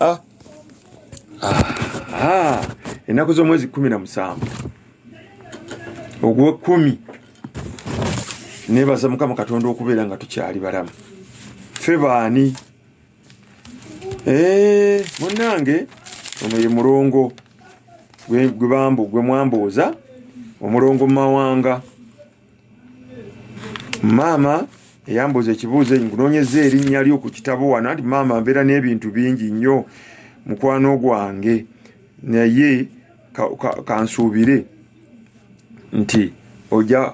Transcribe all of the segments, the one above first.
ah. Ah. Ah. ennaku z'omwezi kumi na musanvu ogwekumi nebaza mukama katonda okubeera nga tukyali balamu fe baani eh, munange ono ye mulongo gwebambu gwemwambooza omulongo mumawanga maama eyambuuza ekibuuzo enyi nkunoonyeza erinnya lyo ku kitabo wano anti maama mbeera n'ebintu bingi nnyo mukwano gwange naye kansuubire ka, ka nti oja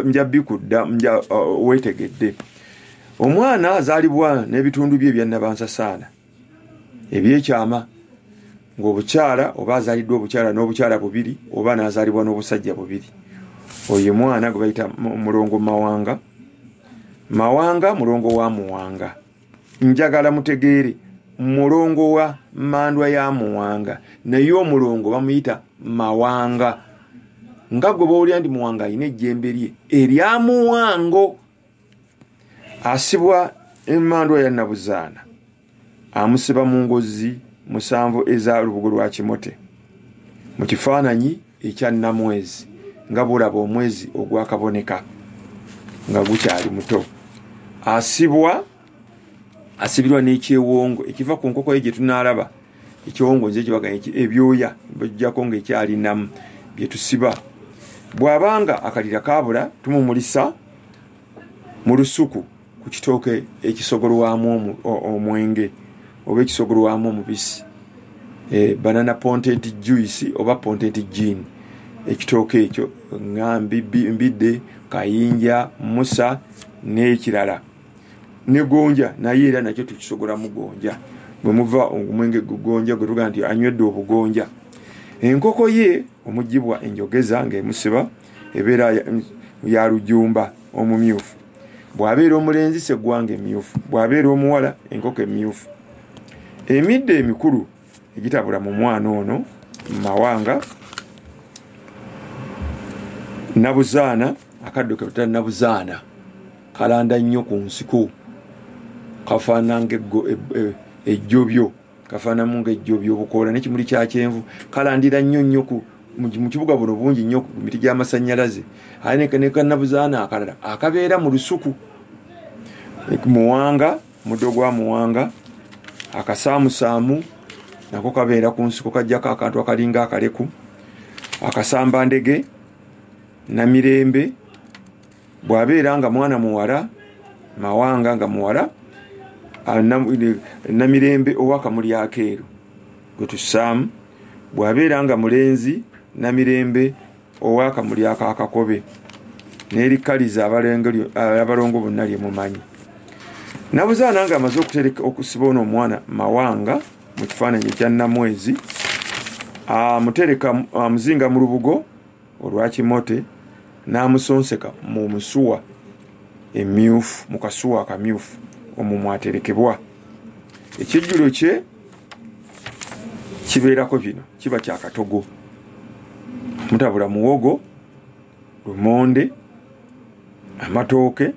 nja bikudda nja uh, wetegedde omwana azaalibwa n'ebitundu bye ebyannabansasaana ebyekyama ngaobukyala oba azaliddwa obukyala n'obukyala bubiri oba nazalibwa n'obusajja bubiri oyo mwana gwe bayita mulongo mawanga mawanga mulongo wa muwanga njagala mutegeere mulongo wa mandwa ya muwanga naye omulongo bamuyita mawanga nga gwe bawulira nti muwanga alina ejjembe lye erya muwango asibwa emandwa ya nabuzaana amusiba mu ngozi musanvu eza lubugo lwa kimote mu kifaananyi ekya namwezi nga bulaba omwezi ogwakaboneka nga gukyali muto asibwa asibirwa n'ekyewongo ekiva ku nkoko ye gye tunaalaba ekyewongo nze kibaganya ebyoya bajjako ng'ekyalinamu bye tusiba bw'aba nga akalira kaabula tumumulisa mu lusuku ku kitooke ekisogolwamu omwenge oba ekisogolwamu omubisi eh, banana pontent juice oba pontent jean ekitooke ekyo nga mbidde kayinja musa n'ekirala ne gonja naye era nakyo tukisogolamu gonja bwe muva omwenge gugonja gwe tugaa nti anywedde obugonja enkoko ye omugibwa enjogeza ngaemusiba ebeera ya lujumba omumyufu bw'abeera omulenzi seggwanga emyufu bw'abeera omuwala enkoko emyufu emidde emikulu egitabula mu mwana ono mawanga nabuzaana akaddo ketuta nabuzaana kalanda nnyo ku nsiko kafaana nga e, e, ejjobyo kafaanamu nga ejjobyo obukoola nekimuli kya kyenvu kalandira nnyo nnyo mu kibuga buno bungi nnyo ku miti gy'amasannyalaze aye nekanabuzaana akalala akabeera mu lusuku muwanga e, muddo gwa muwanga akasaamusaamu nako kabeera ku nsiko kajjako akantu akalinga akaleku akasamba ndege namirembe bwabeera nga mwana muwala mawanga nga muwala ah, namirembe owakamuli akeeru gwetusaamu bwabeera nga mulenzi namirembe ow'akamuli ako akakobe n'erikkaliza abalongo bonna lye mumanyi nabuzaana nga amaze okutereka okusiba ono omwana mawanga mu kifaananyi ekya namwezi amutereka amuzinga mu lubugo olwakimote n'amusonseka mu musuwa emyufu mu kasuwa akamyufu omumwaterekebwa ekijjulo kye kibeerako bino kiba kyakatogo mutabula muwogo lumonde amatooke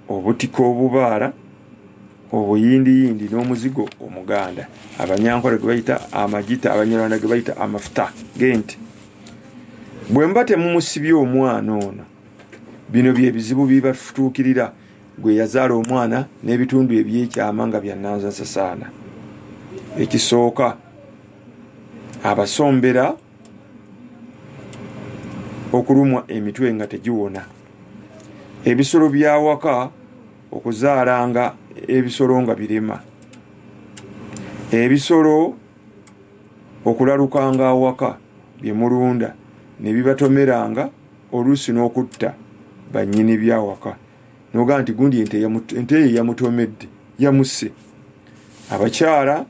obutika obubaala obuyindiyindi n'omuzigo omuganda abanyankole gwe bayita amagita abanyarwanda gwe bayita amafuta genti bwe muba temumusibye omwana ono bino byebizibu bibafutuukirira gwe yazaala omwana n'ebitundu ebyekyama nga byananzasasaana ekisooka abasombera okulumwa emitwe nga tegiwona ebisolo byawaka okuzaalanga ebisolo nga birema ebisolo okulalukanga awaka byemulunda nebibatomeranga oluusi n'okutta bannyini byawaka nogaa nti gundi ente eyo yamutomedde yamusse abakyala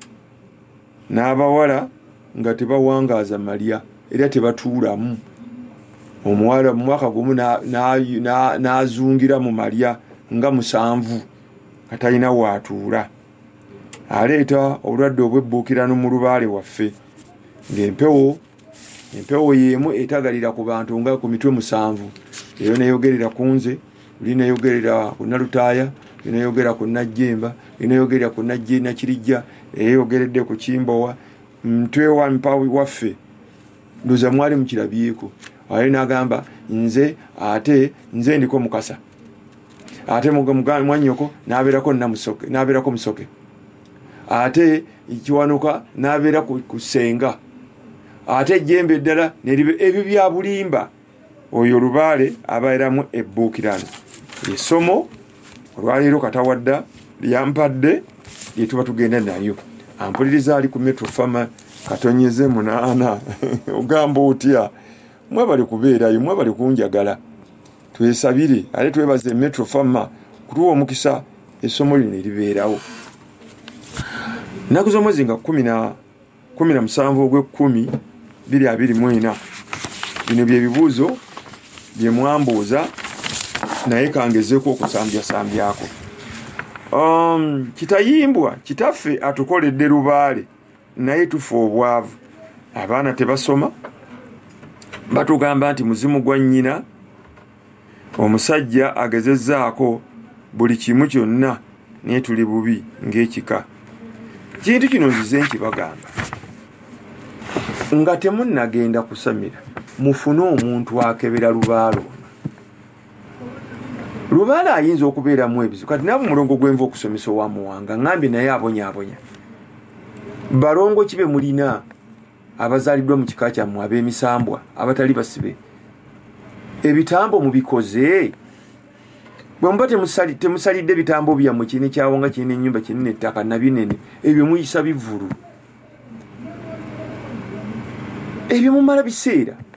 n'abawala nga tebawangaaza malya era tebatuulamu omuwala mu mwaka gumu n'azungira mu malya nga musanvu nga talina waatuula aleeta obulwadde obwebbuukirano mu lubaale waffe ng'empewo empewo yemu etagalira ku bantu nga ku mitwe musanvu eyo neyogerera ku nze oli neyogerera ku nalutaaya oli neyogera ku najjemba oli neyogerera ku najje nakirijja eyeyogeredde ku kimbowa mtwe wa mpawi waffe ndoza mwali mukirabyeko aye nagamba nze ate nze ndiko mukasa ate mwanyoko naberako musoke ate kiwanuka nabeera ku senga ate ejjembe eddala ebyo byabulimba oyo lubaale abaeramu ebbuukirano esomo olwaleero katawadda lyampadde lyetuba tugenda nayo ampuliriza ali ku metro fama katonyeze munaana ogamba otya mwebali kubeerayo mwebali kunjagala twesabire ate twebaze metro fama kutuwa omukisa essomo lino eribeerawo nnaku z'omwezi nga kumi na musanvu ogw'ekkumi biri abiri mu ena bino bye bibuuzo bye mwambuuza naye kangezeeko okusambyasambyaako um, kitayimbwa kitaffe atukoledde lubaale naye tufa obwavu abaana tebasoma batugamba nti muzimu gwa nnyina omusajja agezezaako buli kimu kyonna naye tuli bubi ng'ekika kintu kino nzize nkibagamba nga temunnagenda kusamira mufune omuntu akebera lubaalo lubaala ayinza okubeeramu ebizibu kati naabo mulongo gwenva okusomesa owamuwanga ngambye naye abonyabonya balongo kibe mulina abazaliddwa mu kika kyammwe ab'emisambwa abatali basibe ebitambo mubikoze bwemuba temusalidde ebitambo byammwe kirina ekyawonga kirina enyumba kirina ettaka nabinene ebyo muyisa bivulu ebyo mumala biseera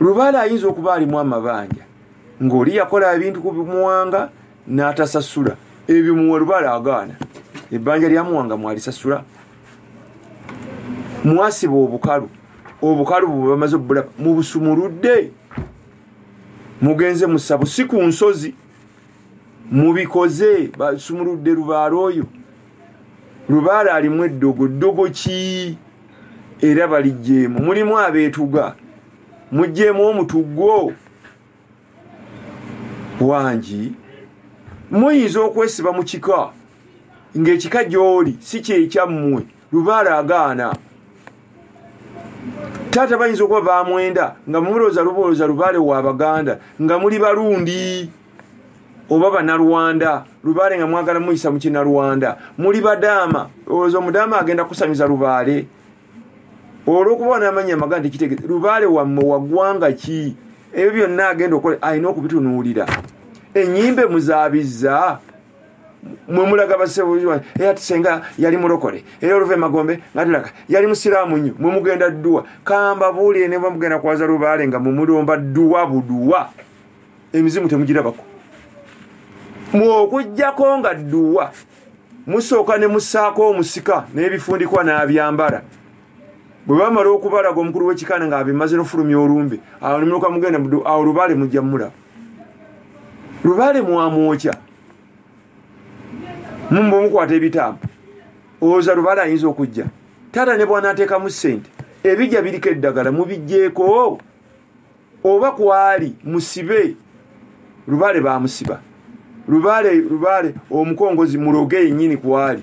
lubaale ayinza okuba alimu amabanja ng'oli yakola ebintu ku bimuwanga n'atasasula ebyo muwa lubaale agaana ebbanja lyamuwanga mwalisasula mwasiba obukalu obukalu bwebamaze obulaba mubusumuludde mugenze musabu si ku nsozi mubikoze basumuludde lubaala oyo lubaala alimu eddogo ddogo ki era balijjeemu mulimu abeetuga mujjeemu omutugwo wangi muyinza okwesiba mu kika ng'ekika gy'oli si kyekyammwe lubaale agaana taata bayinza okuba bamwenda nga mumulooza lubolooza lubaale wa baganda nga muli balundi oba banalwanda lubaale nga mwagala muyisa mukinalwanda muli badaama olowooza omudaama agenda kusamiza lubaale olwokuba namanya amaga nti kitegete lubaale wamme wagwanga ki ebyo byonna agenda okola alina okubitunuulira enyimbe muzabizza mwemulaga basebuziwa era tusenga yali mulokole era oluva emagombe nga tulaga yali musiraamu nnyo mwemugenda dduwa kamba buulire ne bamugenda kwaza lubaale nga mumulomba dduwa buduwa emizimu temugirabako mwokujjako nga dduwa musooka ne musaako omusika n'ebifundikwa n'abyambala bwe bamala okubalaga omukulu w'ekikanda ng'abimaze n'ofulumya olumbe awo nemuluka mugenda awo lubaale mujja mulaba lubale mwamwokya mumba omukwata ebitaabu owoza lubale ayinza okujja taata ne bwanateekamu sente ebijja biriko eddagala mubijjeeko oba kwali musibe lubale bamusiba lubale lubale omukongozi muloge yenyini kwali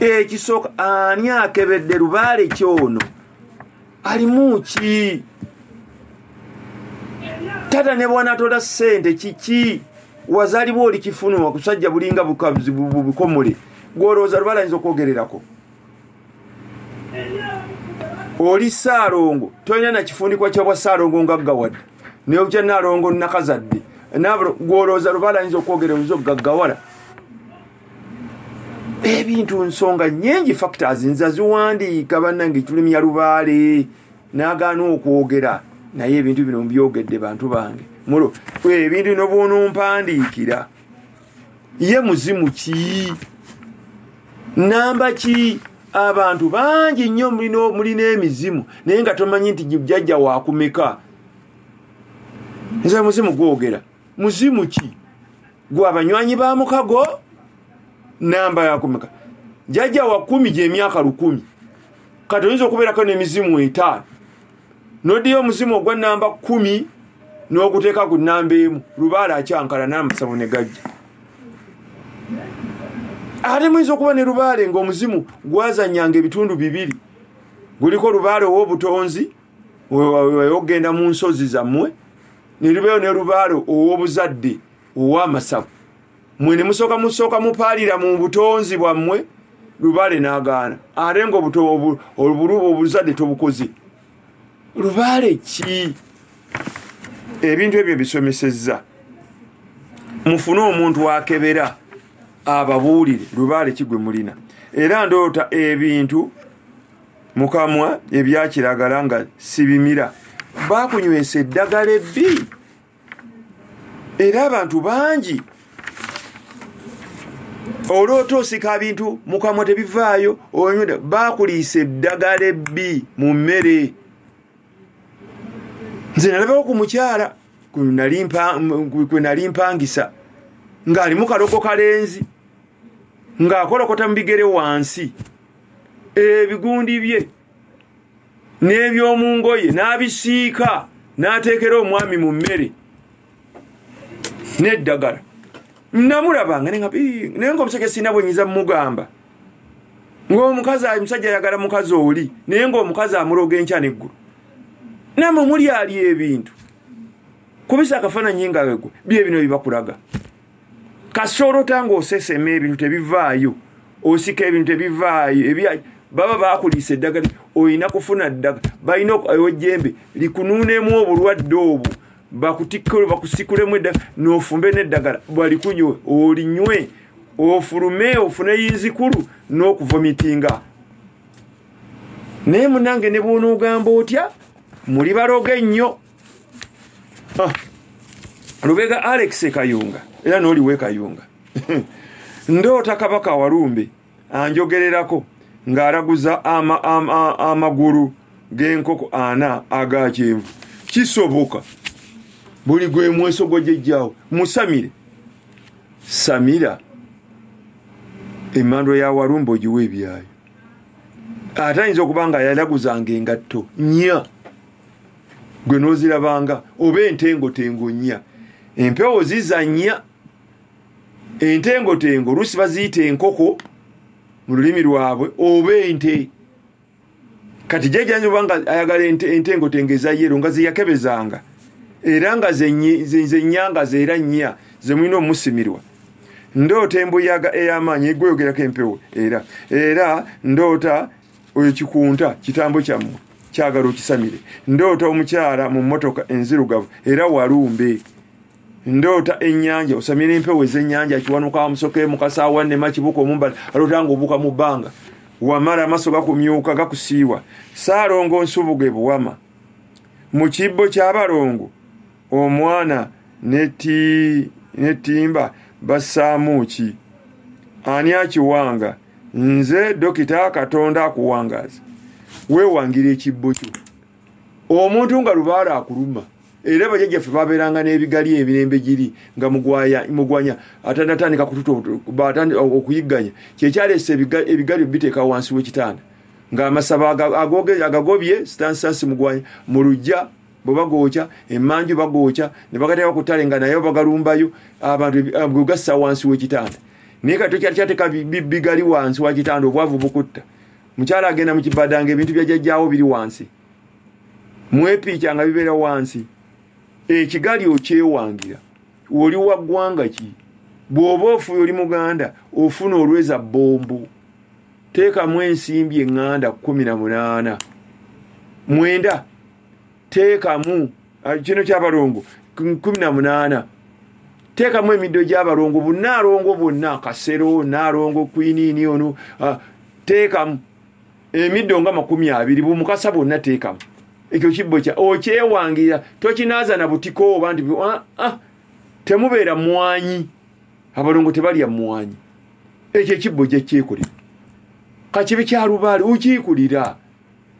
ekisooka ani akebedde lubaale kyono alimu ki tata ne bwanatola sente kiki wazalibwa oli kifunwa kusajja bulinga bukomole gwolowooza lubaale ayinza okwogererako oli saalongo tolina nakifundikwa kyabwa saalongo ngaggawadde newokya naalongo nakazadde gwolowooza lubaale ayinza okwogera oyinza okugaggawala ebintu nsonga nyingi factors nza ziwandiika bannange tulumya lubaale nagaana okwogera naye ebintu bino mbyogedde bantu bange mulo ebintu bino bwonompandiikira ye muzimu ki namba ki abantu bangi nnyo mulina emizimu naye nga tomanyi nti jajja wakumeka nze muzimu gwogera muzimu ki gwe abanywanyi ba mukago namba yakumeka jajja wa kumi gyemyaka lukumi kati oyinza okubeerako n'emizimu etaano noddeyo omuzimu ogwa namba kumi n'oguteeka ku namba emu lubaala akyankala n'amasabo ne gajja ate muyinza okuba ne lubaale ng'omuzimu gwazanyanga ebitundu bibiri guliko lubaale ow'obutonzi ogenda mu nsozi zammwe neribeeyo ne lubaale ow'obuzadde ow'amasavu mwe ne musooka musooka mupaalira mu butonzi bwammwe lubaale n'agaana ate nga obuzadde tobukoze lubaale ki ebintu ebyo bisomesezza mufune omuntu akebera ababuulire lubaale ki gwe mulina era ndoota ebintu mukamwa ebyakiragala nga sibimira bakunywesa eddagala ebbi era abantu bangi oloota osika bintu mukamwa tebivaayo onyweda bakuliisa eddagala ebbi mu mmere nze nalabawo ku mukyala kwe nali mpangisa ng'alimu kaloko kalenzi ng'akolokota mu bigere wansi ebigundi bye n'eby'omu ngoye n'abisiika n'ateekera omwami mu mmere n'eddagala namulabanga naye nga omusajja sirina bwenyiza mugamba ng'omukazi omusajja ayagala mukazi oli naye ng'omukazi amuloga enkya neggulu namwe mulyali ebintu kubisa akafaananyi nga wegwe bye bino bibakulaga kasita olota nga osesema ebintu tebivaayo osika ebintu tebivaayo ebyayo baba bakuliisa eddagala olina kufuna ddaga balina ejembe likunuunemu obulwadde obwo bakutikkule bakusikulemu eddagala nofumbe neddagala balikunywe olinywe ofulume ofune yinzikulu n'okuvomitinga naye munange ne bwonoogamba otya muli baloga ennyo ah. lubega alex kayunga era noliwe kayunga ndoota kabaka walumbe anjogererako ng'alaguza amagulu g'enkoko ana aga kyenvu kisoboka buli gwe mweso gwo gyejjawo musamire samira emandwa ya walumbe ogiwa ebyayo ate ayinza okuba nga yalaguzanga engatto nya gwe nozirabanga oba entengotengo nnya empewo zizanya entengotengo oluusi baziyita enkoko mu lulimi lwabwe oba ente kati jajanja oba nga ayagala entengotengo eza yero nga zeyakebezanga era nga zenyanga zeera nnya zemulina omusimirwa ndoota embuyaga ey'amaanyi egweyogerako empewo era era ndoota oyo kikunta kitambo kyammwe kyagala okisamire ndoota omukyala mu mmotoka enzirugavu era walumbe ndoota ennyanja osamira empewo ez'ennyanja kiwanuka amusoke mukasaawa nema kibuka omumbala aloota nga obuka mu bbanga wamala amaso gakumyuka gakusiiwa saalongo nsubuge buwama mu kibbo ky'abalongo omwana netimba bassaamu ki ani akiwanga nze dokita katonda akuwangaaza wewangira ekibbo kyo omuntu nga lubaala akuluma era bajajjaffe babeeranga n'ebigali emirembe giri nga mugwanya atanatandika kututa okuyigganya kyekyaleesa ebigali biteeka wansi w'ekitanda ng'amasaba agagobye sitansitansi mugwanya mu lujja bwe bagookya emanju bagookya ne bagateeka ku ttale nga nayo bagalumbayo abantu gwe gassa wansi w'ekitanda naye kati tokyali kyateeka bigali wansi wa kitanda obwavu bukutta mukyala agenda mu kibadanga ebintu byajajjaawo biri wansi mwepiica nga bibeera wansi ekigali okyewangira oli wa ggwanga ki bw'oba ofuye oli muganda ofuna olweza bbombo teekamu ensimbi eŋŋanda kkumi na munaana mwenda teekamu ah, kino kyabalongo kumi na munaana teekamu emiddo gyabalongo bunaalongo bwonna kasero naalongo kwiniini ono ah, teekamu emiddo nga makumi abiri bumukasa bwonna teekamu ekyo kibbo kya okyewangira tokinaaza na butiko oba nti ah, ah, temubeera mwanyi abalongo tebalya mwanyi ekyo ekibbo gyekyekolera kakibi kyalubaale okyikulira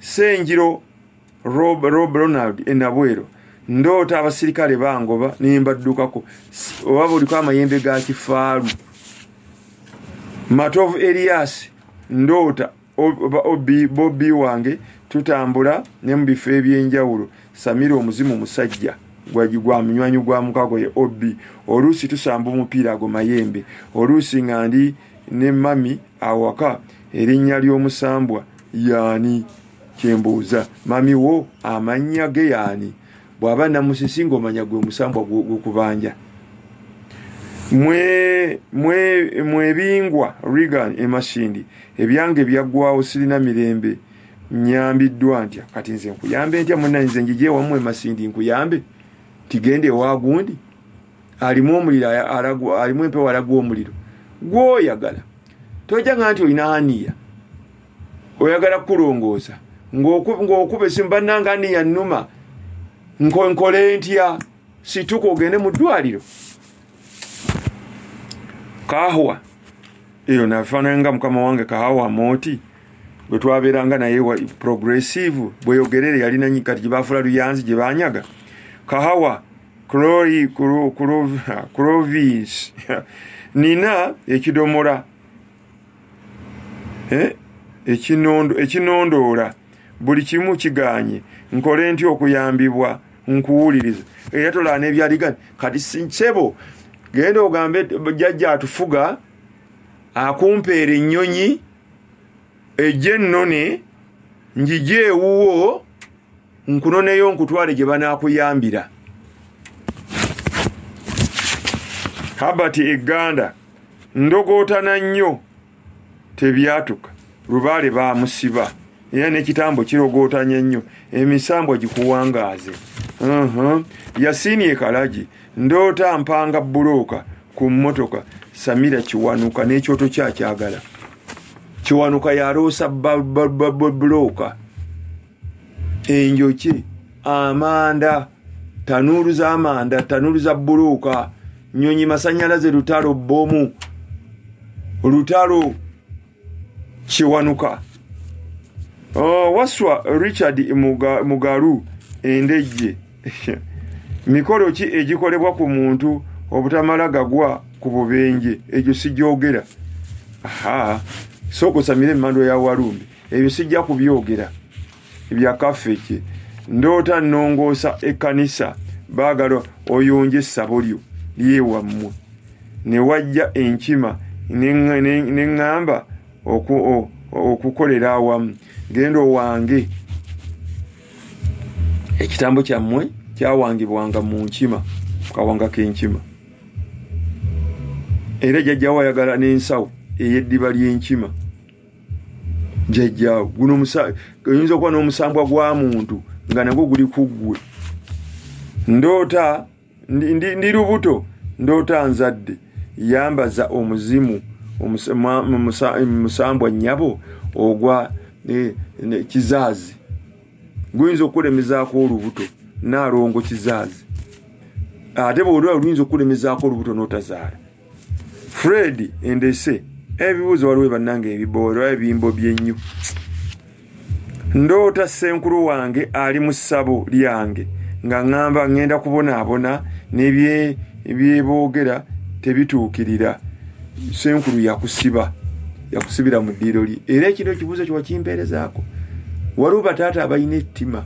senjiro rob ronald enabwero ndoota abasirikale bangoba nembaddukako oba buliko amayembe ga kifaalu matovu elias ndoota obi bobi wange tutambula ne mu bifo ebyenjawulo samira omuzimu musajja gwa munywanyi gwa mukago ye obi oluusi tusamba omupiira ago mayembe oluusi nga ndi ne mami awaka erinnya ly'omusambwa yaani kyembuuza mami wo amannya ge yaani bw'aba namusisi ng'omanya gwe musambwa gwokubanja mwebingwa regan emasindi ebyange byaggwawo sirina mirembe nyambiddwa ntya kati nze nkuyambe ntya munanyize njije wamu emasindi nkuyambe tigende ewagundi alimu omuliro alimu empewo alagwa omuliro gwoyagala tojanga nti olina aniya oyagala kukulongoosa ng'okuba esimu bannanga aniya nnuma nkonkole ntya situka ogende mu ddwaliro kahwa eyo nafaananga mukama wange kahawa mooti bwe twabeeranga naye progressive bweyogerere yalinanyi kati gye baafula luyanzi gye banyaga kahawa clori clovis nina ekidomola eh? ekinondoola buli kimu kiganye nkole nti okuyambibwa nkuwuliriza era tolaa nebyaligani kati sinsebo genda ogambe jajja atufuga akumpeera ennyonyi ejja ennone njije ewuwo nkunoneyo nkutwale gye banaakuyambira habert eganda ndogootana nnyo tebyatuka lubaale baamusiba era n'ekitambo kirogootanya ennyo emisambwa gikuwangaaze yasiini ekalagi ndoota mpanga bbulooka ku mmotoka samira kiwanuka n'ekyoto kyakyagala kiwanuka yaloosa bbulooka enjoki amanda tanuulu z'amanda tanuulu za bbuluuka nyonyi masanyalaze lutalo bbomu lutalo kiwanuka oh, waswa richard mugalu endejje mikolo ki egikolebwa ku muntu obutamala gagwa ku bubenje egyo sigyogera aha sooka osamire emandwa ya walumbe ebyo sijja kubyogera ebya kafeki ndoota nnongoosa ekkanisa baagala oyonje essabo lyo lyewammwe ne wajja enkima ne ŋŋamba okukolera awamu genda owange ekitambo kyammwe kyawangibwanga mu nkima kukawanga k'enkima era jajjawo ayagala n'ensawo ey'eddiba ly'enkima jajjaawo guno oyinza okuba n'omusambwa gwa muntu nga nagwo guli ku ggwe ndoota ndi lubuto ndoota nzadde yambaza omuzimu musambwa nnyabo ogwa e, kizaazi guyinza okukulemezaako olubuto naalongo kizaazi ate bwolwa oluyinza okukulemezaako olubuto n'otazaala fred endese ebibuuzo waliwo bannange ebiboolo ebimbo byennyo ndoota senkulu wange ali mu ssabo lyange nga ŋŋamba ŋŋenda kubonaabona nebyeboogera tebituukirira senkulu yakusiba yakusibira mu ddiiro lye era ekiro ekibuuzo kiwakimpeerezaako waliwo bataata abalina ettima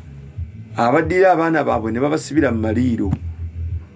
abaddira abaana baabwe ne babasibira mu maliiro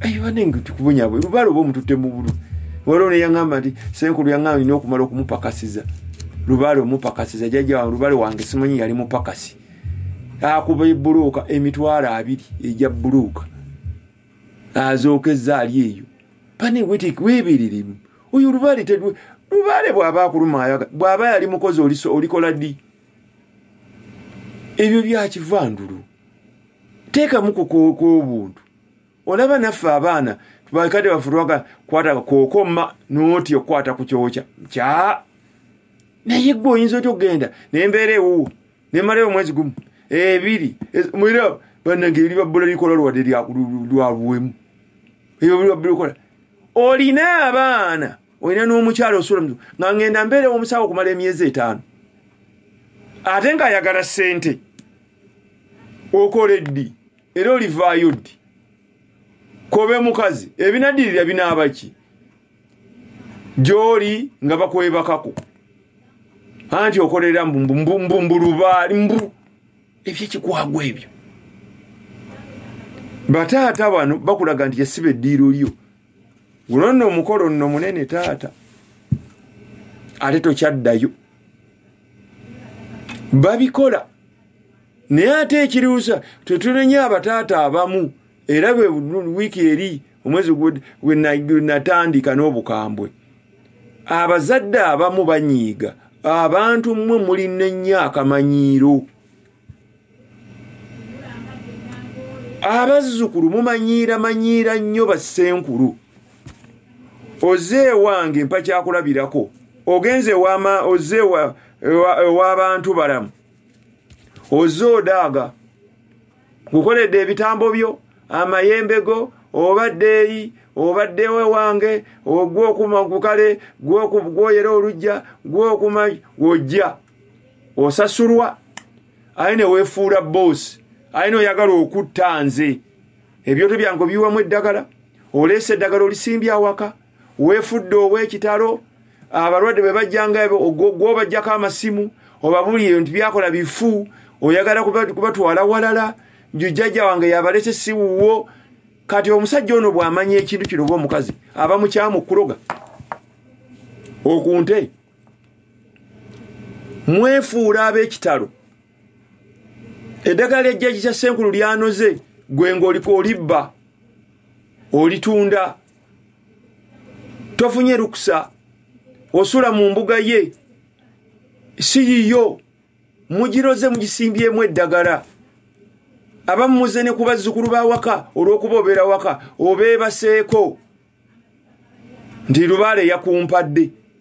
ayiwanengtukubonyabwe lubala oba omutute mubulu waliwo neyaŋamba nti senkulu yaŋamba nina okumala okumupakasiza lubale omupakasiza jaja lubale wange simanyi yali mupakasi akuba ebuluuka emitwalo abiri eja buluuka azookeza ali eyo panewetiki webereremu oyo lubale tedwe lubale bwaba akuluma ayaga bwaba yali mukozi olikola ddi ebyo byakivandulu teekamu kukoka obuntu olaba naffe abaana bakade bafurwaga kwata kokoma noti okwata kuchocha kya naye gwe oyinza otya okugenda nembeera ewuwo nemalayo omwezi gumu ebiri mwira banange eri babbula likola lwade lwabuwemu ebyo buli babbula likola olina abaana olina n'omukyalo osula mu nga ngenda mbeera omusawo okumala emyezi etaano ate ng'ayagala ssente okola eddi era olivaayo ddi kobe mukazi ebinadirira binaaba ki gyoli nga bakwebakako anti okolera mbumbulubaali mbu ebyekikwagwa ebyo bataata bano bakulaga nti yesiba eddiiro lyo guno nno omukolo nno munene taata ate tokyaddayo babikola naye ate ekiriwusa twetunenye abataata abamu era bwe wiiki eri omwezi gwenatandika n'obukambwe abazadde abamu banyiiga abantu mmwe mulina ennyo akamanyiiro abazzukulu mumanyiira manyiira nnyo bassenkulu oze ewange mpakyakulabirako ogenze wama oze ewabantu balamu ozze odaaga gukoledde ebitambo byo amayembe go obaddeeyi obaddewo ewange ogwokuma kukale gwoyera olujja gwokuma ojja osasulwa aye newefuula boosi aye noyagala okutta nze ebyoto byange obiwamu eddagala oleesa eddagala olisimbye awaka weefudde ow'ekitalo abalwadde bwe bajjanga gwobajjako amasimu obabuulire nti byakola bifu oyagala kubatwala walala njujjajja wange yabalese siwuwo kati omusajja ono bw'amanya ekintu kino oba omukazi aba mukyamu okuloga okunte mwefuula ab'ekitalo eddagala ejjaji kya senkulu lyanoze gwe ng'oliko olibba olitunda tofunye lukusa osula mu mbuga ye si yiyo mugiroze mugisimbyemu eddagala abamu muze ne ku bazzukulu ba waka olw'okuba obeera waka obeebaseeko nti lubaale yakumpadde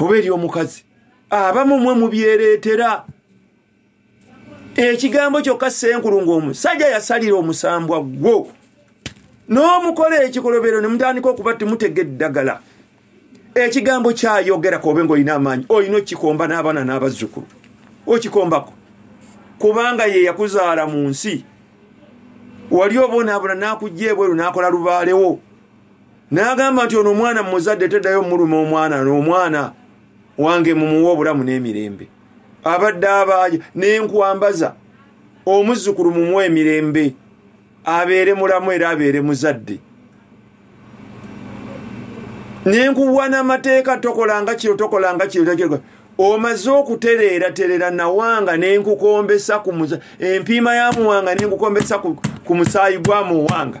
oba eri omukazi abamu mwe mubyereetera ekigambo kyokka senkulu ngaomusajja yasalira omusambwa gwo n'omukola ekikolobero ne mutandika okuba timutega eddagala ekigambo kyayogerako obe ngaolina amaanyi olina okikomba n'abaana n'abazzukulu okikombako kubanga ye yakuzaala mu nsi wali obonaabona n'akujja ebweru n'akola lubaalewo n'agamba nti ono omwana mumuzadde teddayo omuluma omwana n'omwana wange mumuwa obulamu n'emirembe abadde abaaja n'enkwambaza omuzzukulu mumuwa emirembe abeere mulamu era abeere muzadde nenkuwa namateeka tokolanga kino tokolanga kino omaze okutereera terera nawanga nenkukombesa empiima ya muwanga nenkukombesa ku musaayi gwa muwanga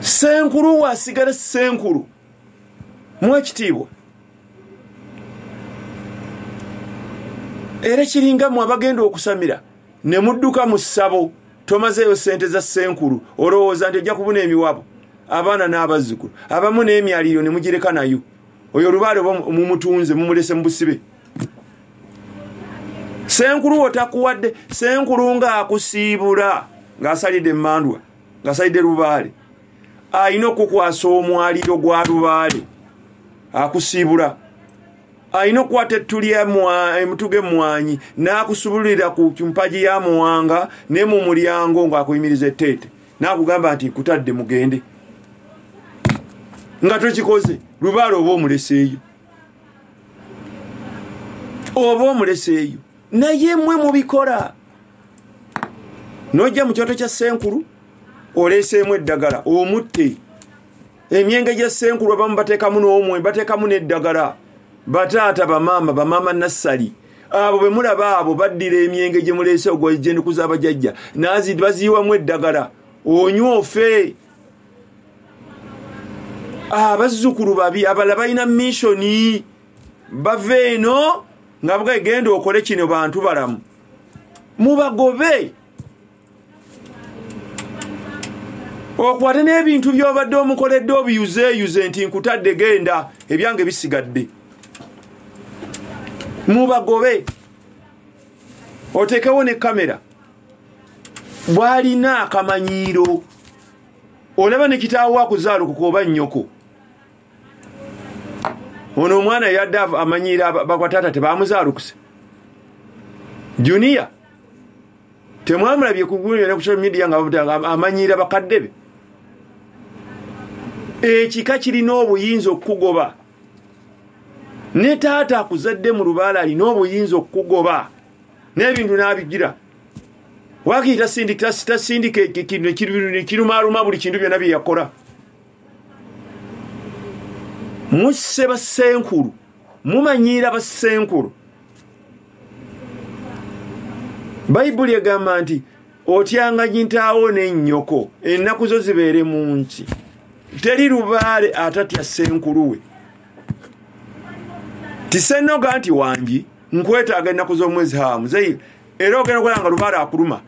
senkulu wasigala senkulu mwekitiibwa era kiringa mwe abagenda okusamira ne mudduka mu ssabo tomazeeyo ssente za senkulu olowooza nti ojja kubuna emiwabo abaana n'abazzukulu abamu n'emyaliiro ne mugireka nayo oyo olubaale oba mumutunze mumulese mu busibe senkulu otakuwadde senkulu ng'akusiibula ng'asalidde emandwa ng'asalidde lubaale alina okukwasa omwaliro gwa lubaale akusiibula alina okukwata ettu lyemutuga emmwanyi n'akusubulira ku mpagi ya muwanga ne mu mulyango ng'akuyimiriza etteete n'akugamba nti nkutadde mugende nga tokikoze lubaale oba omuleseeyo oba omuleseeyo naye mwe mubikola nojja mu kyoto kya senkulu oleeseemu eddagala omutte emyenge gya senkulu abamu bateekamu n'omwe bateekamu n'eddagala bataata bamaama bamaama nassali abo bwe mulaba abo baddira emyenge gye muleese ogwajendikuza abajajja nazi baziyiwamu eddagala onywa ofe abazzukulu babi abala balina missioni bava eno nga bwegenda okole kino bantu balamu mubagobe okwate n'ebintu byobadde omukoledde obiyuzeyuze nti nkutadde genda ebyange bisigadde mubagobe otekewo ne kamera bwalina akamanyiiro olaba ne kitaawo akuzaalukuka oba nnyoko ono omwana yadde amanyiira bakwataata tebamuzaalukuse juniya temwamulabye kugunyone ku social media nga amanyiira bakadde be ekika kirina obuyinza okukugoba ne taata akuzadde mu lubaala alina obuyinza okukugoba n'ebintu n'abigira wakiri tasindika ekirumaaluma buli kintu byonna bye yakola musse bassenkulu mumanyiira bassenkulu bayibuli egamba nti otyanga gintaawo n'ennyoko ennaku zo zibeere mu nki teri lubaale atatya senkuluwe tisenoga nti wangi nkwetaaga ennaku z'omwezi ha muzeyi era ogenda okola nga lubaale akuluma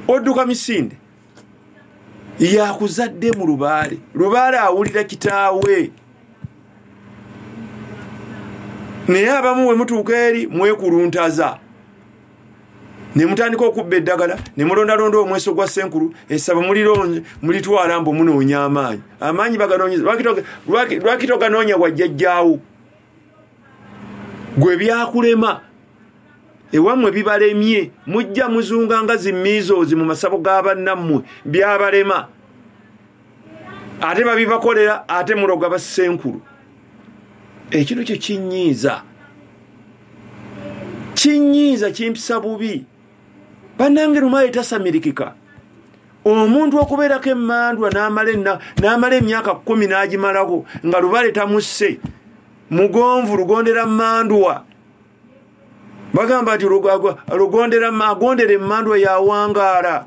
odduka misinde yakuzadde mu lubaale lubaale awulira kitaawe naye abamu we mutuuka eri mwekuluntaza ne mutandika okubba eddagala ne mulondalonda omweso gwa senkulu esaba mulitwala mbu munoonya amaanyi amaanyi baganonyeza lwaki toganoonya wajjajjaawo gwe byakulema ewamwe bibalemye mujja muzunga nga zimiizoozi mu masabo ga bannammwe byabalema ate babibakolera ate muloga basenkulu ekintu kyo kinyiiza kinyiiza kimpisa bubi bannange lumaali tasamirikika omuntu okubeerako emandwa n'amala emyaka kumi n'agimalako nga lubale tamusse mugonvu lugondera mandwa bagamba nti agondera emandwa yawangaala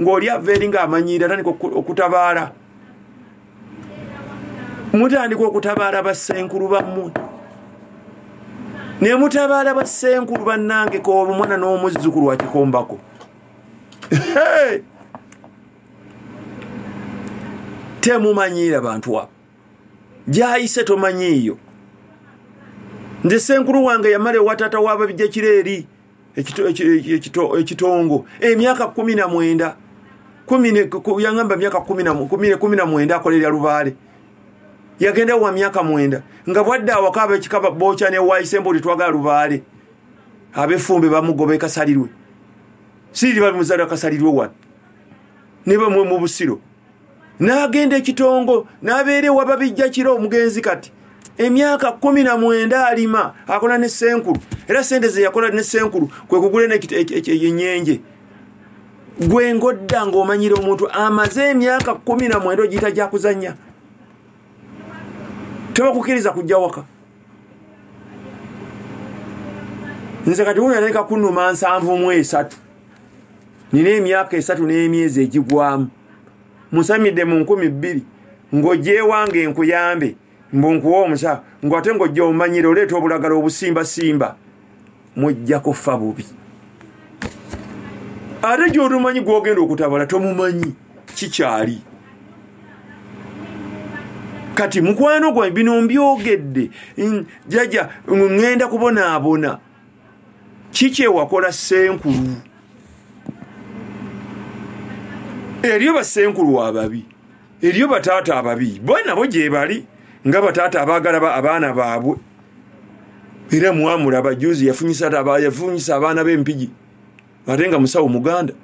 ng'oli ava eri ng'amanyiira atandika okutabaala mutandika okutabaala bassenkulu bammwe ne mutabaala bassenkulu bannange koolwa omwana n'omuzzukulu wakikombako temumanyiira bantu abo gyayise tomanyiiyo nze senkulu wange yamala ewatata wababija kiro eri ekitongo emyaka eh, kumi na mwenda yagamba myaka kumi na mwenda akolerera lubaale yagenda wa myaka mwenda nga bwadde awaka abekikaba boca newayisemba oli twagala lubaale abefumbe bamugoba ekasalirwe siriri babimuzalira kasalirwe wano nebamwe mu busiro n'agenda ekitongo n'abeera ewa babijja kiro omugenzi kati emyaka kumi na mwenda alima akola ne senkulu era sente ze yakola ne senkulu kwe kugula enyenje gwe ngodda ng'omanyira omuntu amaze emyaka kumi na mwenda ogiyita gyakuzannya tebakukiriza kujja waka nze kati wuyo naeka kunuma nsanvu mu esatu nina emyaka esatu n'emyezi egigwamu musamidde mu nkumi bbiri ng'ogyewange enkuyambe mbu nkuwa omusa ngu ate ng'ojja omanyira oleeta obulagala obusimbasimba mujja kufa bubi ate gy'otumanyi gw'ogenda okutabala tomumanyi kikyali kati mukwano gwange bino mbyogedde jaja ŋŋenda kubonaabona kikyewakola senkulu eriyo basenkulu ababi eriyo bataata ababi banabo gyebali nga bataata abagala abaana baabwe era mwamulaba juzi yafunyisa abaana bempigi ate nga musawo muganda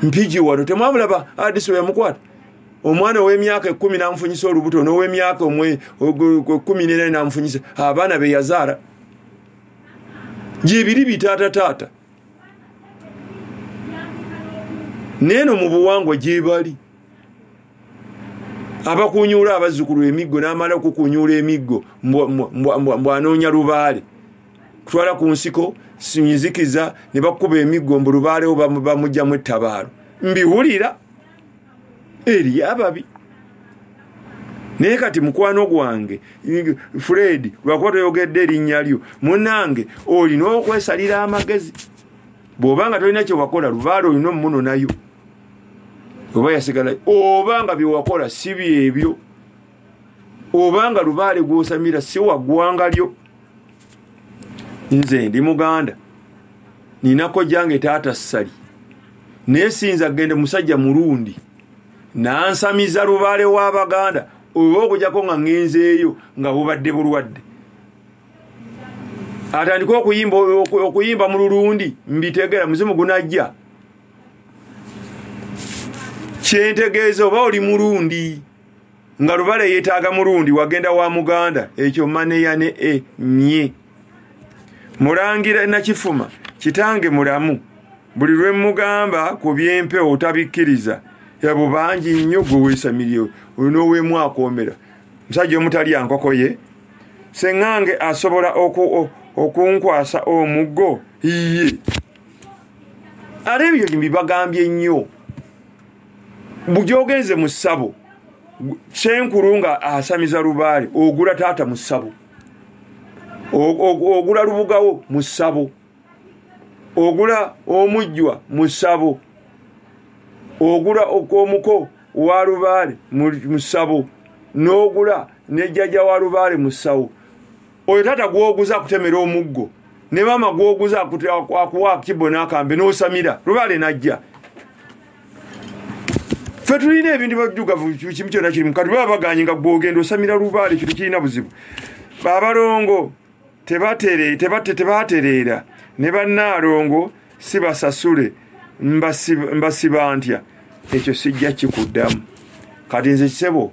mpigi wano temwamulaba adisi weyamukwata omwana owemyaka ekumi namufunyisa olubuto nowemyaka kumi nena namufunyisa abaana beyazaala gyebiri bitaata taata neeno mu buwangwa gyebali abakunyuula abazzukulu emiggo namala okukunyuula emiggo mbwanoonya lubaale kutwala ku nsiko sinzikiza ne bakuba emiggo mbu lubaalewo bamugyamu ettabaalo mbiwulira eri ababi naye kati mukwano gwange fred lwakuba toyogedde erinnya lyo munange olina okwesalira amagezi bw'oba nga tolina kyewakola lubaale olina omunonayo oba yasigalayo oba nga byewakola si byebyo oba nga lubaale gwosamira si wagwanga lyo nze ndi muganda ninako jange taata ssali naye sinza gende musajja mulundi nansamiza lubaale w'abaganda oba okujako nga ngenzeeyo nga bubadde bulwadde atandike okuyimba okuyimba mu lulundi mbitegera muzimu gunajja kyentegeeza oba oli mulundi nga lubala eyetaaga mulundi wagenda wa muganda ekyo maneya ne e nye mulangira nakifuma kitange mulamu buli lwe mugamba ku byempewo tabikkiriza yabo bangi nnyo gwe weesamiriyo oyo n'owemu akomera musajja omutali ankoko ye seŋŋange asobola okunkwasa omuggo iye ate ebyo bibagambye nnyo bugyogenze mu ssabo senkulu nga asamiza lubaale ogula taata mu ssabo ogula lubugawo mu ssabo ogula omujjwa mu ssabo ogula omuko wa lubaale mu ssabo n'ogula nejjaja wa lubaale mu ssawo oyo taata gwoguza akutemera omuggo ne maama gwoguza akuwa kibo n'akambe n'osamira lubaale najja fe tulina ebintu bajugavu kimu kyona kirimu kati baba baganye nga gwogenda osamira lubaale kintu kirina buzibu babalongo tebatereera ne bannaalongo si basasule mbasiba ntya ekyo sijja kikuddamu kati nze kisebo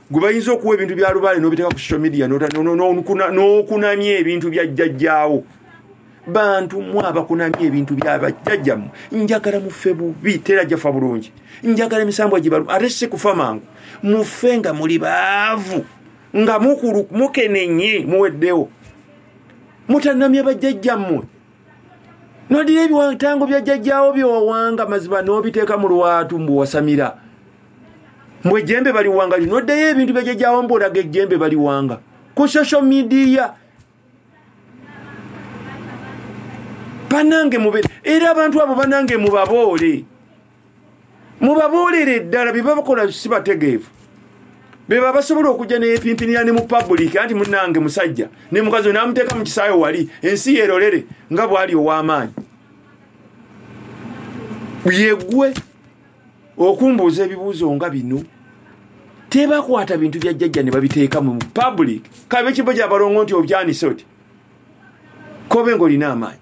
gwe bayinza okuwa ebintu bya lubaale n'obiteeka ku social media n'okunamya ebintu bya jjajjaawo bantu mwe abakunamya ebintu byabajjajjamu njagala mufe bubi tera jjafa bulungi njagala emisambwa gibalu ate si kufa mangu mufe nga muli baavu nga mukenenye muweddewo mutanamya bajjajjammwe nodira ebiwantango bya jjajjaawo byewawanga mazima n'obiteeka mu lwatu mbu wasamira mbu ejjembe baliwanga lyo noddayo ebintu bya jjajjaawo mbu olaga ejjembe baliwanga ku social media banange mube era abantu abo banange mubaboole mubabuulire ddala byebabakola si bategeevu beba basobola okujja neyepimpinira ne mu public anti munange musajja ne mukazi namuteeka mu kisaayo wali ensi yerolere nga bwali ow'amaanyi yegwe okumbuuza ebibuuzo nga bino tebakwata bintu bya jjajja ne babiteeka mu public kabe kibo gyabalongo nti obyanise oti kobe ngaolina amaanyi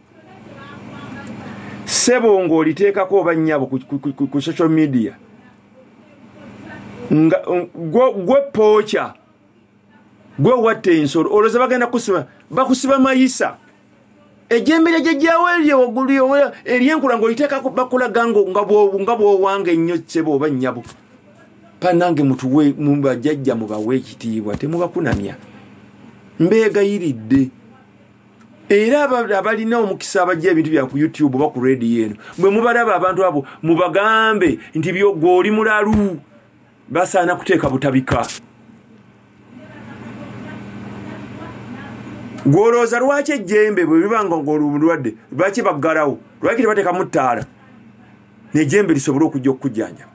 sebo ng'oliteekako oba nnyabo ku social media nga gwe pooca gwe watta ensolo olwoza bagenda kusiba bakusiba mayisa ejembe lyajajjawo eryo waggulu eryenkula ngaoliteekako bakulaga nga bwowanga ennyo sebo oba nnyabo panange mutuwe mubajajja mubawe ekitiibwa temubakunamya mbeegayiridde era abalina omukisa abajja ebintu bya ku youtube oba ku rediyo eno bwe mubalaba abantu abo mubagambe nti byogwe oli mulalu basaana kuteeka butabika gwolowooza lwaki ejjembe bwe biba nga ngolumulwadde lwaki baggalawo lwaki tebateekamu ttaala nejjembe lisobole okujja okukujjanjaba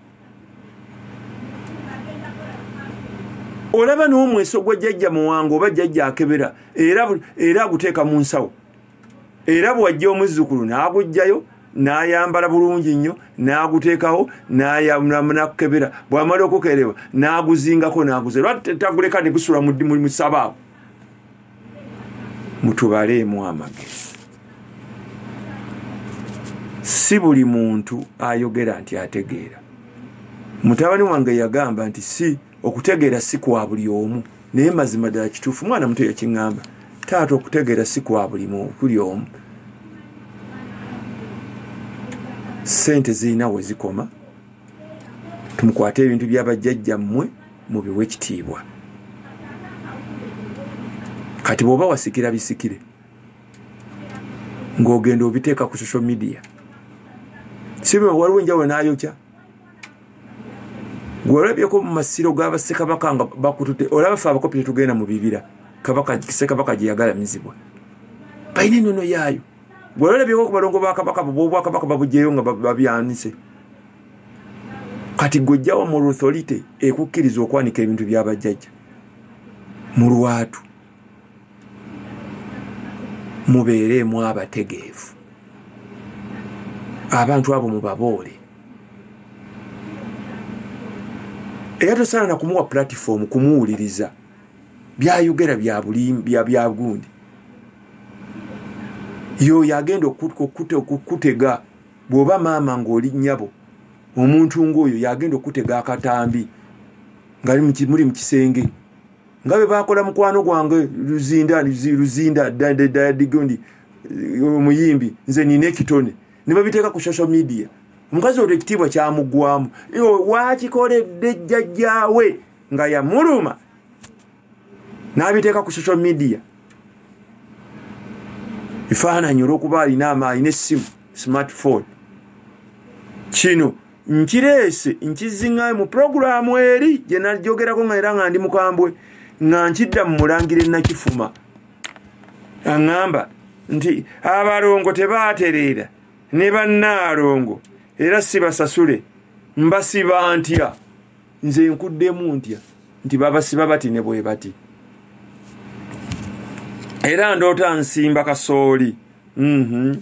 olaba n'omweso gwa jjajja muwango oba jjajja akebera era aguteeka mu nsawo era bwajja omuzzukulu n'agujjayo n'ayambala bulungi nnyo n'aguteekawo nakukebera bwamala okukerewa n'aguzingako n'aguze lwa taguleka ne gusula mu sabaawo mutubaleemu amagezi si buli muntu ayogera nti ategeera mutabani wange yagamba nti si okutegeera si kwa buli omu naye mazima ddala kituufu mwana muto yakiŋŋamba taata okutegeera si kwa buli mukuli omu sente zirina we zikoma tumukwate ebintu byabajjajjammwe mubiwe ekitiibwa kati bwoba wasikira bisikire ng'ogenda obiteeka ku social media sibima waliwo enjawulo n'ayokya gwewalabyeko mu masiro g'abassekabaka nga bakutute olaba fe abakopi tetugenda mu bibira kabakasekabaka gyeyagalamizibwa balina enono yaayo gwewalabyeko ku balongo bakabaka bobwakabaka babujeyo nga babyanise kati gwejjawa mu rutholite ekukkiriza okwanika ebintu byabajjajja mu lwatu mubeereemu abategeevu abantu abo mubaboole era tosaana kumuwa platifoomu kumuwuliriza byayogera byabulimbyabyagundi yoyo agenda okukutega bw'oba maama ng'oli nnyabo omuntu ng'oyo yagenda okutega akatambi nga muli mu kisenge nga bwe bakola mukwano gwange luzinda luzinda dadigondi omuyimbi nze nina ekitone ne babiteeka ku social media omukazi olwo ekitiibwa kyamuggwamu wakikoledde jjajjaawe nga yamuluma n'abiteeka ku social media efaananyi olwokuba alina alina essimu smartphone kino nkireese nkizingayo mu puroguramu eri gye najogerako nga era nga ndi mukambwe nga nkidda mu mulangira enakifuma aŋŋamba nti abalongo tebaatereera ne bannaalongo era sibasasule mbasiba ntya nze nkuddemu ntya nti babasiba bati ne bwe bati era ndoota nsimba kasooli mhm.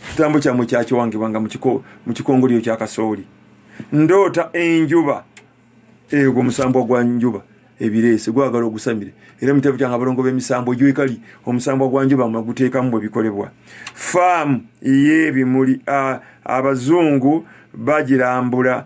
kitambo kyamwe kyakiwangibwanga mu kikongoliro kya kasooli ndoota enjuba egwo omusambwa gwa njuba ebireese gwagala ogusamire era mutabo kyanga abalongo b'emisambo gyekali omusambwa gwa njuba mweguteekamu bwe bikolebwa faamu ey'ebimuli abazungu bagirambula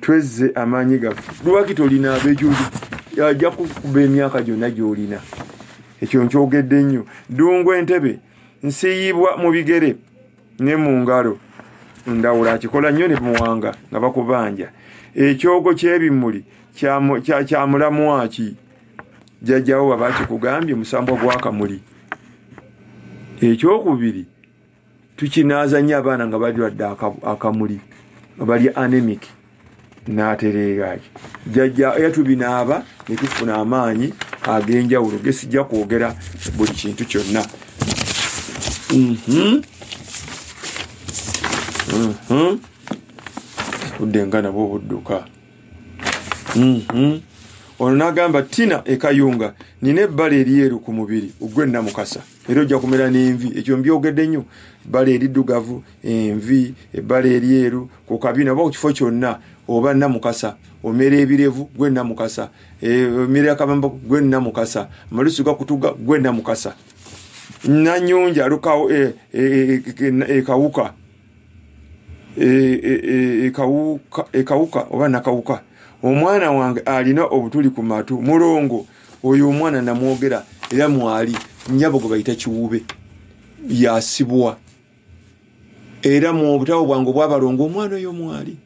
twezze amaanyi gaffe lwaki tolina abejoli ajja kukuba emyaka gyonna gyolina ekyo nkyogedde nnyo ddungu entebe nsiyibwa mu bigere ne mu ngalo ndawula akikola nnyo ne muwanga nga bakubanja ekyogo kyebimuli kyamulamwaki jjajjawo baba kikugambye musambwa gwakamuli ekyokubiri tukinaaza nnyo abaana nga balwadde akamuli nga bali anemic n'atereeraaki jajja era tubinaaba ne tufuna amaanyi ag'enjawulo gesijja kwogera buli kintu kyonna mhm. mhm. udde nga nabwo obudduka mhm. ono n'agamba tina ekayunga nina ebbala eryeru ku mubiri ogw'ennamukasa era ojja kumera n'envi ekyo mbyogedde nnyo ebbala eriddugavu envi ebbala eryeru ku kabina oba ku kifo kyonna oba namukasa omera ebirevu gwe namukasa e, omera akabamba gwe namukasa amalusu gakutuga gwe namukasa nanyonja alukawo ekawuka e, e, e, e, e, e, e, e, ekawuka e, e, e, e oba nakawuka omwana wange alina obutuli ku matu mulongo oyo omwana namwogera era mwali nyabo gwe bayita kiwube yasibwa era mu obutawo bwange obwabalongo omwana oyo mwali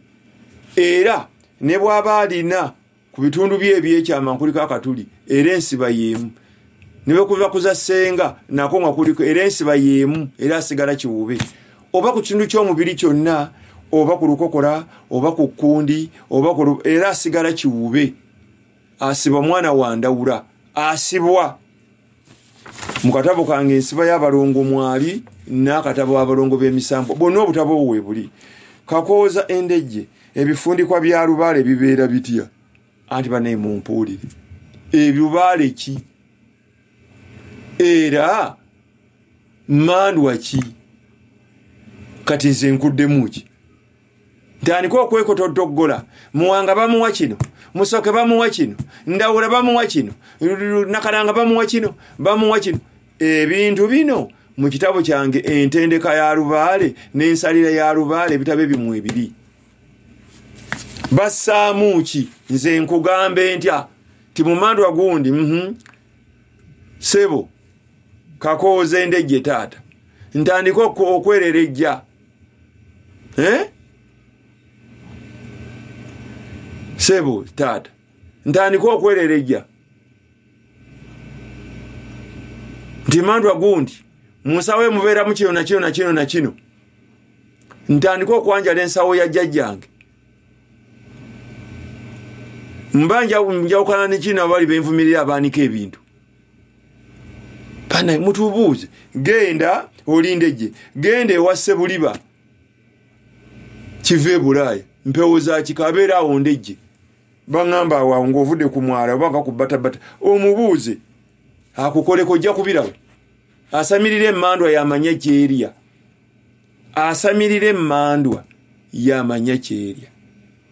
era ne bwaba alina ku bitundu bye ebyekyama nkuliko akatuli era ensiba yeemu nebekuva kuza senga nako nga kuliko era ensiba yeemu era asigala kiwube oba ku kitundu ky'omubiri kyonna oba ku lukokola oba ku kkundi oba era asigala kiwube asiba omwana wandawula asibwa mu katabo kange ensiba y'abalongo mwali n'akatabo abalongo b'emisambwa bwonna obutabo obwo webuli kakooza endejje ebifundikwa bya lubaale bibeera bitya anti banaye mumpuulire ebibaale ki era mandwa ki kati nze nkuddemu ki tandika okwekotodoggola muwanga bamuwa kino musoke bamuwa kino ndawula bamuwa kino nakalanga bamuwa kino bamuwa kino ebintu bino mu kitabo kyange entendeka ya lubaale n'ensalira ya lubaale ebitabo ebimu ebiri bassaamu ki nze nkugambe ntya ti mumandwa gundi mhm. sebo kakooze ndejje taata ntandika okwerera ejja eh? sebo taata ntandika okwerereja nti mandwa gundi munsawo emubeeramu kino nakino nakino nakino ntandika okwanjala ensawo ya jjajjange mba njawukana nekino abali benvumirira abaanika ebintu bana mutubuuze genda olinde gye genda ewasse buliba kiva ebulaaya mpewo zakika abeera awo ndegye baŋamba awawo ngaovudde ku mwala oba nga ku batabata omubuuze akukoleko ojja kubiraba asamirira emandwa yamanya kyerya asamirira emmandwa yamanya kyerya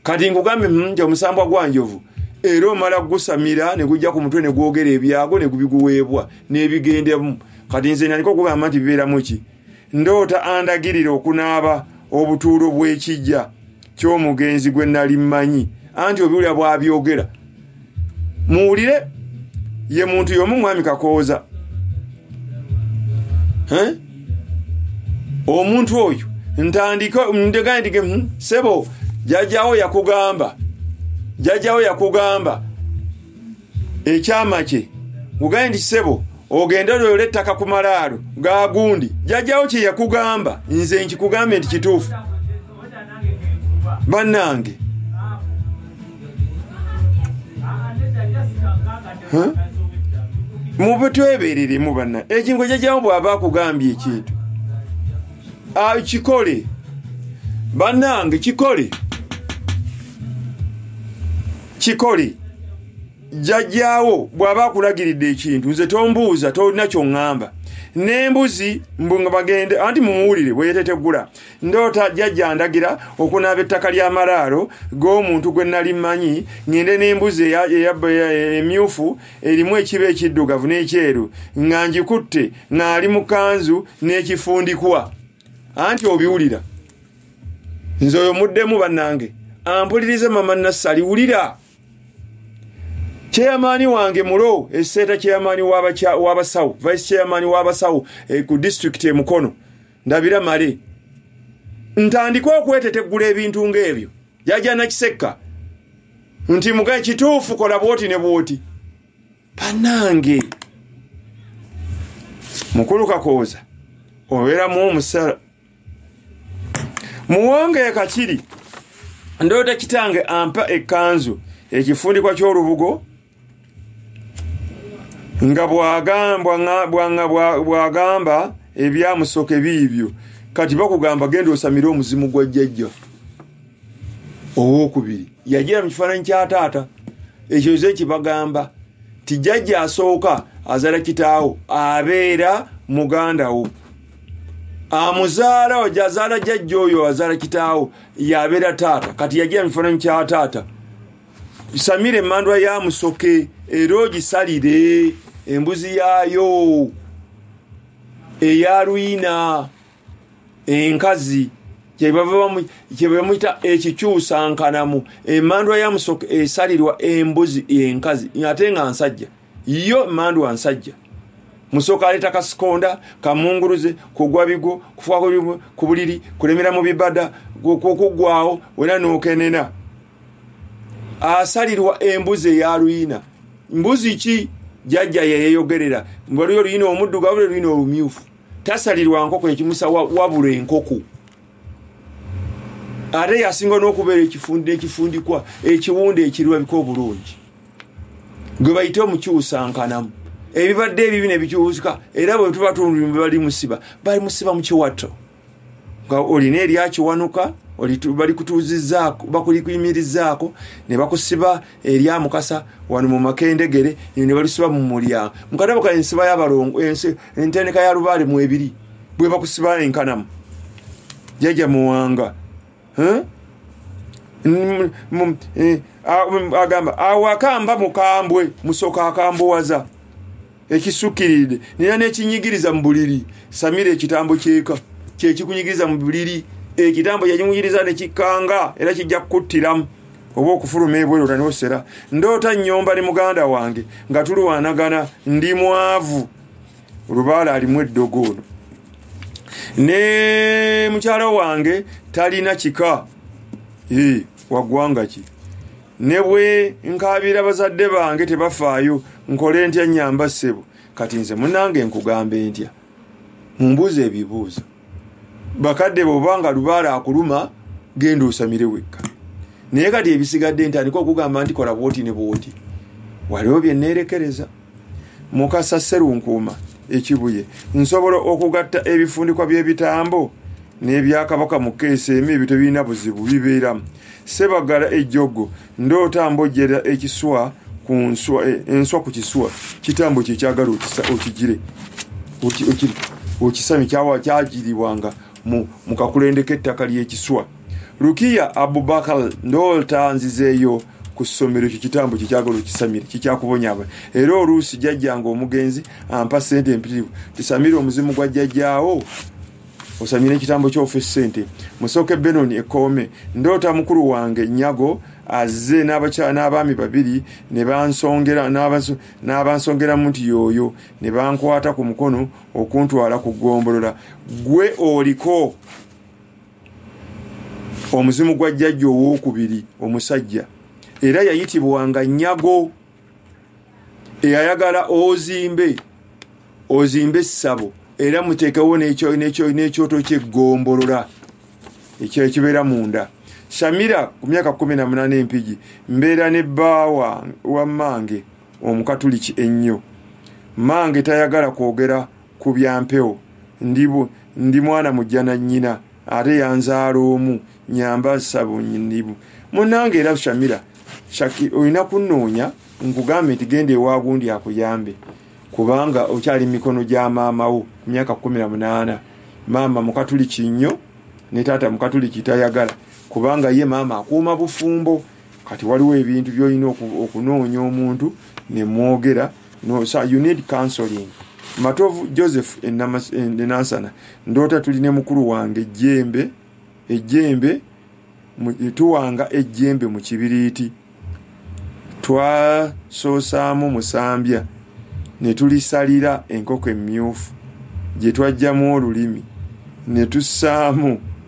kati nkugambye hmm, nti omusambwa gwa njovu era omala gusamira ne gujja ku mutwe ne gwogera ebyago ne gubiguweebwa n'ebigendemu kati nze naliko okugamba nti bibeeramu ki ndoota andagirira okunaaba obutuulo bw'ekijja ky'omugenzi gwe nali mmanyi anti obiwulira bw'abyogera muwulire ye muntu y'omu mwami kakooza omuntu oyo ntandika ndegaa ndige hmm, sebo jajjawo yakugamba jajjawo yakugamba ekyama kye ugaye nti sebo ogende lwoyola ettaka ku malaalo gagundi jajjawo kye yakugamba nze nkikugambe nti kituufu bannange mube twebereremu banna ekintu ekyajamu bwaba akugambye ekintu ah, kikole bannange kikole kikole jjajjaawo bw'aba akulagiridde ekintu nze tombuuza tolina kyoŋŋamba n'embuzi mbu nga bagende anti mumuwulire bweyetetegula ndoota jjajja andagira okunaaba ettaka ly'amalaalo g'omuntu gwe nali mmanyi ng'ende n'embuzi emyufu erimu ekiba ekiddugavu n'ekyeru nga ngikutte ng'ali mu kanzu n'ekifundikwa anti obiwulira nze oyo muddemu bannange ampulirize mama nassali wulira chairmani wange mulo eseeta chairmani w'abasawo vice chairmani w'abasawo eh, ku disitulikiti emukono ndabira male ntandika okweteteggula ebintu ng'ebyo jajana kisekka nti muga kituufu kola bwoti ne bwoti banange mukulu kakooza obeeramu omusala muwanga ekakiri ndoota kitange ampa ekkanzu ekifundikwa ky'olubugo nga bwagamba ebyamusoke biibyo kati bakugamba genda osamire omuzimu gwa jjajja owokubiri yajira mu kifaananyi kya taata ekyo ze kibagamba ti jjajja asooka azala kitaawo abeera muganda wo amuzaala oja azaala jajja oyo azaala kitaawo yabeera taata kati yagira mifananyi kya taata samira emandwa ya musoke era ogisalire embuzi yaayo eya lwina enkazi kyebamuyita ekikyusankanamu emandwa ya musoke esalirwa embuzi enkazi ate nga nsajja yo emandwa nsajja musooka aleeta kasikonda kamunguruze kugwa bigo kufuka ku buliri kulemera mu bibada okuggwawo wena nokenena asalirwa embuzi eya luyina mbuzi ki jajja yeyeyogerera waliyo oluyina omuddugavu le luyina olumyufu tasalirwa nkoko ekimusa wabula enkoko ate yasinga n'okubeera ekifundi ekifundikwa ekiwunda ekirabika obulungi gwe bayite omukyusankanamu ebibadde ebibi nebikyuuka era bwetuba tundu bali musiba bali musiba mukiwato nga olina eryakiwanuka balikutuuzizzaako bakulikuyimirizzaako ne bakusiba erya mukasa wano mu makendegere ino ne balusiba mu mulyango mukadabo ka ensiba yabalongo entendeka ya lubaale mu ebiri bwe bakusiba enkanamu jaja muwanga e, agamba awaka mba mukambwe musoka akambuwaza ekisukkiridde nina nekinyigiriza mu buliri samira ekitambo kyeka kyekikunyigiriza mu buliri ekitambo kyekinyigiriza nekikanga era kijja kukuttiramu oba okufuluma ebweru tanosera ndoota nyomba ne muganda wange nga tulwanagana ndi mwavu lubaala alimu eddogo ono ne mukyala wange talina kika waggwanga ki ne bwe nkaabira bazadde bange tebafaayo nkole ntya nyamba ssebo kati nze munange nkugamba entya mumbuuza ebibuuzo bakadde bwoba nga lubaala akuluma genda osamire wekka naye kati ebisigadde ntandika okugamba nti kola bwoti ne bwoti waliwo byeneerekereza mukasa serunkuuma ekibuye nsobola okugatta ebifundikwa by'ebitambo n'ebyakabaka mu keesi emu ebyo tebirina buzibu bibeeramu sebagala ejjogo ndoota mbojjera ekiswa ku nswa eh, enswa ku kiswa kitambo kyekyagala okigire okisami kyagiribwanga mu kakulendeko ettaka ly'ekiswa lukiya abubakal ndoolta nzizeeyo ku ssomero ekyo kitambo kyekyagala okisamire kikyakubonyaba era oluusi jajjanga omugenzi ampa sente empitirivu tisamire omuzimu gwa jajjaawo osamira ekitambo kyofa esente musooke benoni ekoome ndoota mukulu wange nyago azze n'abaami babiri nebansongeramu nti yooyo nebankwata ku mukono okuntwala ku ggombolola gwe oliko omuzimu gwa jjajja owokubiri omusajja era yayitibwanga nyago eyayagala ozimbe ozimbe essabo era muteekewo n'ekyoto kyeggombolola ekyekibeera munda samira ku myaka kumi na munaana empigi mbeera ne bbaawa wammange omukatuliki ennyo mange tayagala kwogera ku byampewo ndi mwana mujja na nnyina ate yanzaala omu nyamba sabunyibu munange era shamira shaki olina kunoonya nkugambe nti genda ewagundi akuyambe kubanga okyali mikono gya maamawo ku myaka kumi na munaana maama mukatuliki nnyo ne taata mukatuliki tayagala kubanga ye maama akuuma bufumbo kati waliwo ebintu byolina okunoonya omuntu nemwogera no, so you need counseling matovu joseph enansana ndoota tuli ne mukulu wange ejjembe ejjembe tuwanga ejjembe mu kibiriiti twasoosaamu musambya ne tulisalira enkoko emmyufu gye twajjamu olulimi ne tussaamu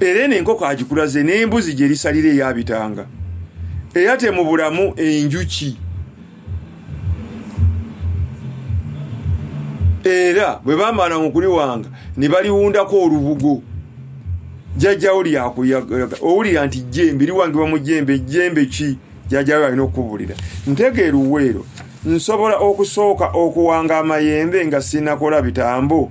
era eno enkoko agikulaze n'embuzi gye lisalira eyabitanga era temubulamu enjuki era bwe bamala mu kuliwanga ne baliwundako olubugo jjajjawo lyakuyaga owulira nti jjembe liwangibwa mu jjembe jjembe ki jjajjawo alina okukubulira ntegeera uweero nsobola okusooka okuwanga amayembe nga sinakola bitambo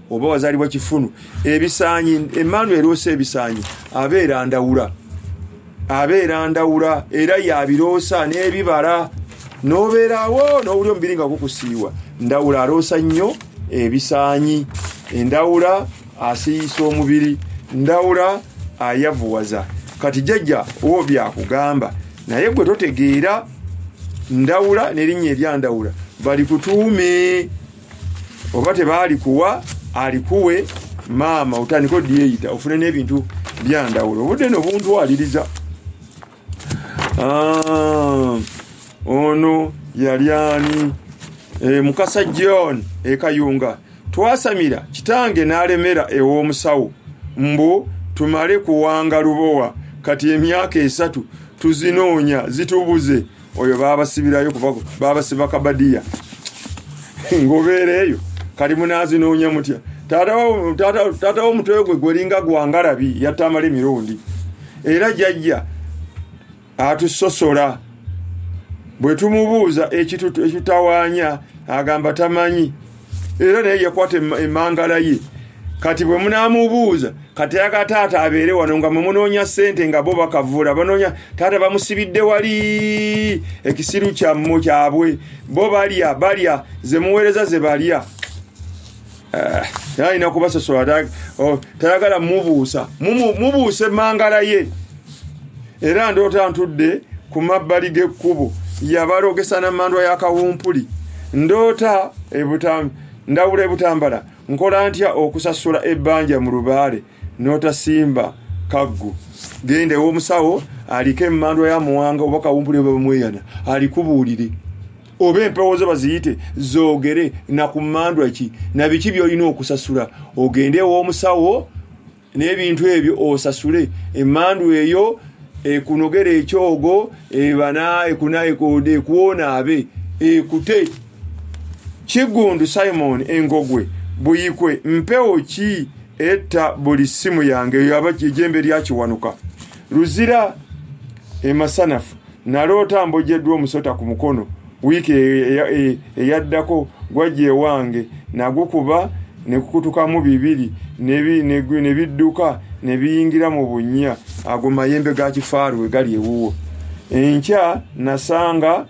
oba wazalibwa kifunu ebisanyi emmaanu eroosa ebisanyi abeera ndawula abeera ndawula era yabiroosa n'ebibala n'obeerawo n'owuli omubiri nga gukusiiwa ndawula aroosa nnyo ebisanyi endawula asiiyisa omubiri ndawula ayavuwaza kati jajja owo byakugamba naye gwe totegeera ndawula nerinnya eryandawula balikutuume oba tebaalikuwa alikuwe maama otandika odyeyita ofune n'ebintu byandawulo obudde no buntwaliriza ah, ono yali ani e, mukasa john ekayunga twasamira kitange n'alemera ew'omusawo mbu tumale kuwanga lubowa kati emyaka esatu tuzinoonya zitubuze oyo babasibirayo kuba babasiba kabadiya ngobeera eyo kali munaazi noonya mutya taata womutwe gwe gwelinga gwangalabi yatta amala emirundi era jajja atusosola bwe tumubuuza ekitutawaanya agamba tamanyi era naye yakwata emangala ye kati bwe munaamubuuza kati ayagala taata abeere wano nga mwemunoonya ssente nga bo bakavuula banoonya taata bamusibidde wali ekisiru kyammu kyabwe bo balya balya ze muweereza ze balya eh, alina kubasosola oh, tayagala mubuusa mubuuse mangala ye era ndoota ntudde ku mabbali g'ekkubo yabalogesa na mandwa ya kawumpuli ndoota ndawula ebutambala nkola ntya okusasula ebbanja mu lubaale n'otasimba kaggu genda ew'omusawo aliko emandwa ya muwanga oba kawumpuli oba bamweyana alikubuulire oba empewo zo baziyite zoogere na ku mandwa ki na biki by'olina okusasula ogende ew'omusawo n'ebintu ebyo osasule emandu eyo ekunogera ekyogo ebana ekunaekode ekuwonaabe ekute kigundu simon engogwe buyikwe mpewo ki etta buli ssimu yange eyo aba ejembe lyakiwanuka luzira emasanafu naloota mbojeddwa omusota ku mukono wiiki eyaddako e, e, e, gwajja ewange nagukuba nekukutukamu bibiri nebidduka nebiyingira mu bunnya ago mayembe ga kifaaru we gali ewuwo enkya nasanga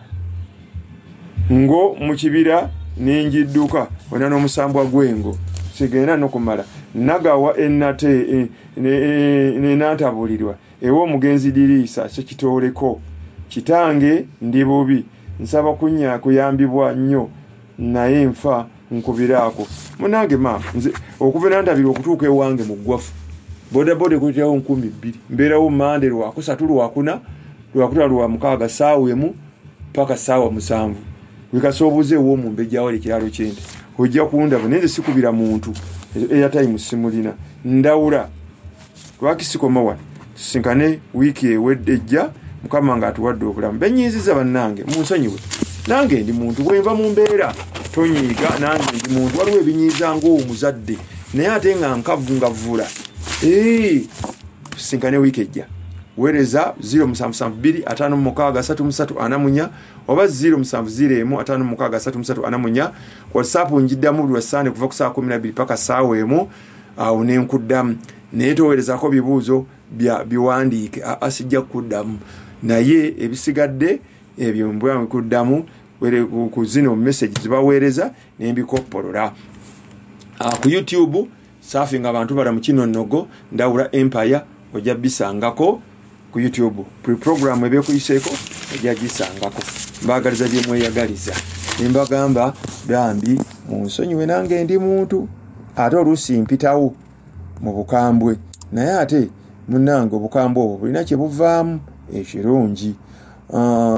ngo mu kibira nenjidduka ona n'omusambwa gwengo sigenda nokumala nagawa enate e, nenantabulirwa ewa omugenzi diriisa kyekitooleko kitange ndi bubi nsaba kunya kuyambibwa nnyo naye nfa nkubiraako munange ma nze okuva nantabirwa okutuuka ewange mu ggwafu bodaboda ekutirawo nkumi bbiri mbeerawo mande lwakusatu lwakuna lwakutano lwa mukaaga saawa emu paka saawa musanvu wekasa obuze ew'omumbejawo ekiralo kyente ojja kundaba naye nze sikubira muntu eyatayimu simulina ndawula lwaki sikoma wano tusinkane wiiki ewedde ejja mukama nga atuwadde obulamu benyiiziza bannange munsonyiwe nange ndi muntu bwenva mu mbeera tonyiiga nange ndi muntu waliwo ebinyiiza ngaomuzadde naye ate nga nkavu nga vvula tusinkane wiiki ejja wereza 07725334 oba 07055334 whatsapp njiddamu buli wasaande kuva ku saa 12 paka saawa emu awo nenkuddamu naye towerezako bibuuzo biwandiike aa sijja kukuddamu naye ebisigadde ebyo mbwamu kuddamu ku zino message zibaweereza nembikoppolola ah, ku youtube saafi nga abantu bala mu kino nnogo ndawula empire ojja bisangako ku youtube buli puroguramu ebyekuyiseeko ojja gisangako mbaagaliza bye mweyagaliza ne mbagamba bambi munsonyiwe nange ndi muntu ate oluusi mpitawo mu bukambwe naye ate munange obukambwe obwo bulina kye buvaamu ekirungi ah,